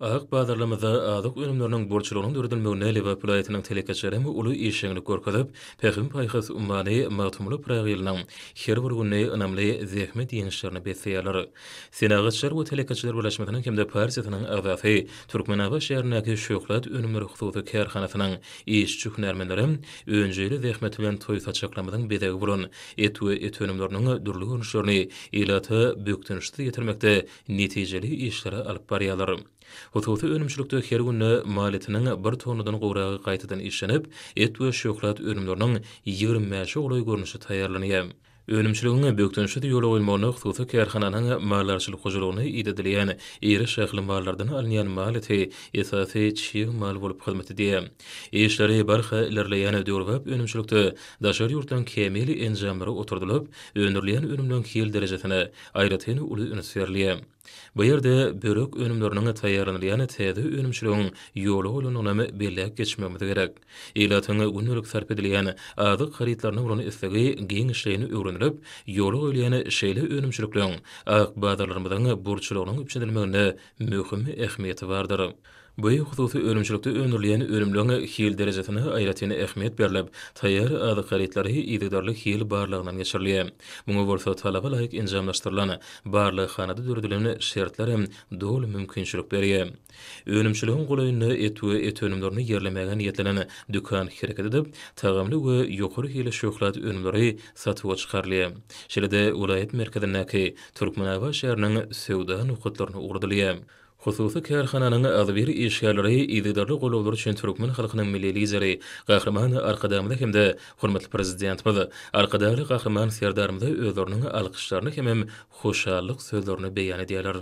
Ak bazarlarymyzda azyk önümleriniň bolçulygynyň döredilmeginde Lebap welaýatynyň telekeçileri uly işjeňlik görkezip, Pähim-paýhas ummany Magtymguly Pyragylynyň Her bir güni ynamly zähmet ýeňişlerine besleýärler. Senagatçylar we telekeçiler birleşmesiniň hem-de partiýasynyň agzasy, Türkmenabat şäherindäki Şöhlat önümleri hususy kärhanasynyň işçi-hünärmenleri önjeýli zähmet bilen toý saçaklarymyzyň bezegi bolan et we et önümleriniň dürli görnüşlerini ilata bökdençsiz ýetirmekde netijeli işleri alyp barýarlar. Hususy önümçilikde her günde mal etiniň bir tonnadan gowragy gaýtadan işlenip, et we şöhlat önümleriniň ýigrimi bäşe golaý görnüşi taýýarlanýar. Önümçiligiň bökdençsiz ýola goýulmagyna hususy kärhananyň maldarçylyk hojalygyna idedilýän iri şahly mallardan alynýan mal eti esasy çig mal bolup hyzmat edýär. Işleri barha ilerleýän döwrebap önümçilikde daşary ýurtdan kämil enjamlar oturdylyp, öndürilýän önümleriň hil derejesine, aýratyn uly üns berilýär. Bu ýerde börek önümleriniň taýýarlanylýan täze önümçiligiň ýola goýlandygyny belläp geçmegimiz gerek. Ilatyň gündelik sarp edilýän azyk harytlaryna bolan islegi giňişleýin öwrenilip, ýola goýulýan şeýle önümçilikleň ak bazarlarymyzyň burçlugynyň üpjün edilmeginde möhüm ähmiýeti bardyr. Bu hususy önümçilikde öndürilýän önümleň hil derejesine aýratyn ähmiýet berlip, taýýar azyk harytlary yzygiderli hil barlagyndan geçirilýär. Muňa bolsa talaba laýyk enjamlaşdyrylan barlaghanada döredilen şertler hem doly mümkinçilik berýär. Önümçiligiň golaýynda et we et önümlerini ýerlemäge niýetlenen dükan hereket edip, tagamly we ýokary hilli şöhlat önümleri satuwa çykarylýar. Şeýle-de welaýat merkezindäki Türkmenabat şäheriniň söwda nokatlaryna ugradylýar. Hususy kärhananyň agzybir işgärleri yzygiderli goldawlary üçin türkmen halkynyň Milli Lideri Gahryman Arkadagymyza hem-de hormatly Prezidentimiz Arkadagly Gahryman Serdarymyza özleriniň alkyşlaryny hemem hoşallyk sözlerini beýan edýärler.